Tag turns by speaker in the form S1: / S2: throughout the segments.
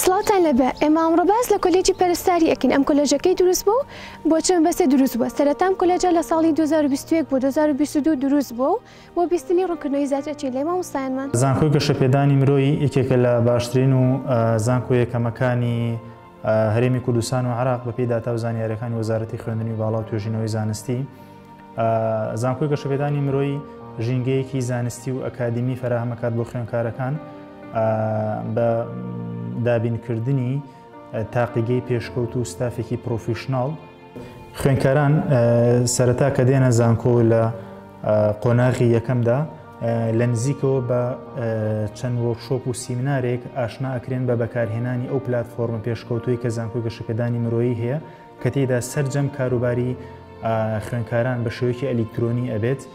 S1: سڵاتان لەبێ ئێمە ئەمڕۆ باس لە کۆلێجی پەرستاری ئەکەین ئەم کۆلێژەکەی دروست بوو بۆ چەند بەسێ دروست بووە سەرەتام کۆلێجە لە ساڵی 2021 بۆ 2022 دروست بوو و بۆ بیستنی ڕونکردنەوەی زیاتر ئەچین لای مامۆستایانمان. زانکۆی گەشەپێدانی
S2: مرۆی یەکێکە لە باشترین و زانکۆ یەکەمەکانی هەرێمی کوردستان و عراق بەپی داتا و زانیارەکانی وەزارەتی خوێندنی باڵا و توێژینەوەی زانستی زانکۆی گەشەپێدانی مرۆی ژینگەیەکی زانستی و ئەکادمی فراهمەکات بۆ خوێنکارەکان بە دابینکردنی تاقیگەی پێشکەوت و ستافێکی پرۆفیشناڵ خوێنکاران سەرەتا کە دێنە زانکۆ لە قۆناغی یەکەمدا لە نزیکەوە بە چەند وەرشۆپ و سیمنارێک ئاشنا ئەکرێن بە بەکارهێنانی ئەو پلتفۆرمە پێشکەوتوی کە زانکۆ گەشەکەدانی مرۆیی هەیە کە تێدا سرجەم کاروباری خوێنکاران بە شێوەیەکی ئەلیکترۆنی ئەبێت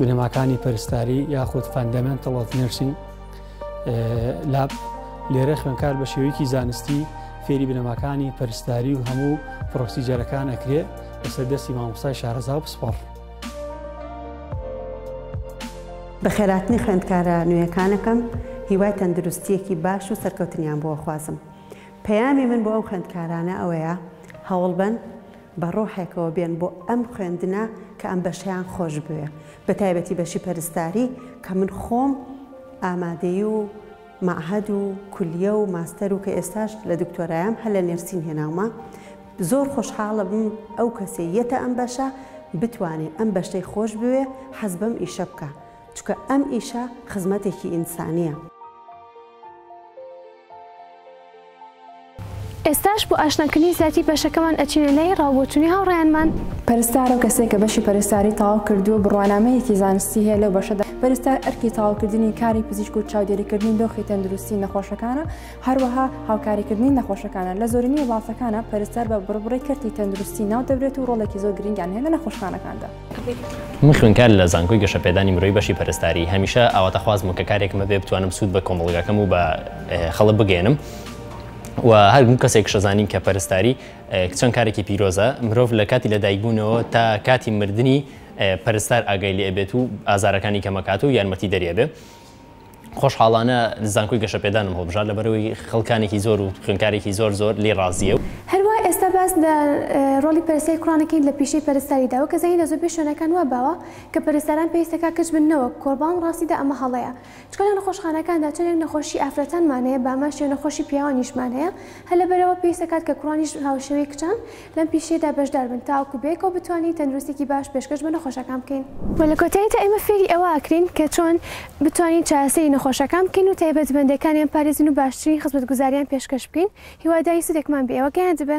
S3: بنەماکانی پەرستاری یاخود فەندەمنتڵ ئۆف نرسینگ لاب لێرە خوێنکار بە شێوەیەکی زانستی فێری بنەماکانی پەرستاری و هەموو پرۆسیجەرەکان ئەکرێ لەسەر دەستی مامۆستای شارەزا و پسپۆڕ.
S4: بە خێراتنی خوێندکارە نوێیەکانەکەم هیوای تەندروستیەکی باش و سەرکەوتنیان بۆ خوازم. پەیامی من بۆ ئەو خوێندکارانە ئەوەیە هەوڵبن بە ڕۆحێکەوە بێن بۆ ئەم خوێندنە کە ئەم بەشەیان خۆش بوێ بە تایبەتی بەشی پەرستاری کە من خۆم ئامادەی و مەعهەد و کولیە و ماستەر و کە ئێستاش لە دکتۆرایەم هەر لە نێرسین هێناومە زۆر خۆشحاڵم ئەو کەسێ یەتە ئەم بەشە بتوانێ ئەم بەشەی خۆش بوێ حەز بەم ئیشە بکە چکە ئەم ئیشە خزمەتێکی ئینسانیە.
S1: ئێستاش بۆ ئاشناکردنی زیاتری بەشەکەمان ئەچینە لای ڕاوبۆچونی هاوڕێیانمان. پەرستار ئەو کەسێک
S5: کە بەشی پەرستاری تەواو کردووە بڕوانامەیەکی زانستی هەیە لەو بەشەدا پەرستار ئەرکی تەواوکردنی کاری پزیشک و چاودێریکردنی دۆخی تەندروستی نەخۆشەکانە هەروەها هاوکاریکردنی نەخۆشەکانە لە زۆرینەی وڵاتەکانە پەرستار بە بڕبڕی کەرتی تەندروستی ناو دەبرێت و ڕۆڵێکی زۆر گرنگیان هەیە لە نەخۆشخانەکاندا. من
S6: خوێندکارم لە زانکۆی گەشەپێدانی مرۆیی بەشی پەرستاری هەمیشە ئاواتەخوازم و کە کارێکمە بێ بتوانم سوود بە کۆمەڵگاکەم و بە خەڵک بگەێنم و هەرگوم کەسێک شەزانین کە پەرستاری چەند کارێکی پیرۆزە مرۆڤ لە کاتی لەدایکبوونەوە تا کاتی مردنی پەرستار ئاگای لێ بێت و ئازارەکانی کەمەکات و یارمەتی دەرێ بێ خۆشحاڵانە زانکۆی گەشەپێدانم هەڵبژارد لەبەرئەوەی خەڵکانێکی زۆر و خوێندکارێکی زۆر زۆر لێی ڕازییە. هەروا ئێستا باس
S1: لە ڕۆڵی پەرستاری کوڕان ئەکەین لە پیشەی پەرستاریدا، وەک ئەزانین لە زۆربەی شوێنەکان وا باوە کە پەرستاران پێویستە کاک کچ بن نەوەک کوڕ، بەڵام ڕاستیدا ئەمە هەڵەیە چونکە لە نەخۆشخانەکاندا چەندێک نەخۆشی ئافرەتانمان هەیە بامەش یان نەخۆشی پیاوانیشمان هەیە، هەر لەبەرئەوە پێویستە کاتکە کوڕانیش هاوشێوەی کچان لەم پیشەیەدا بەشدار بن تاوەکو بەیەکەوە بتوانین تەندروستێکی باش پێشکەش بە نەخۆشەکان بکەین. وە لە کۆتاییدا ئێمە فێری ئەوە ئەکرێین کە چۆن بتوانین چارەسەری نەخۆشەکان بکەین و تایبەتمەندێکانیان پارێزین و باشترین خزمەتگوزاریان پێشکەش بکەین هیوادارین سودێکمان بێ ئێوە گەیاندبێ.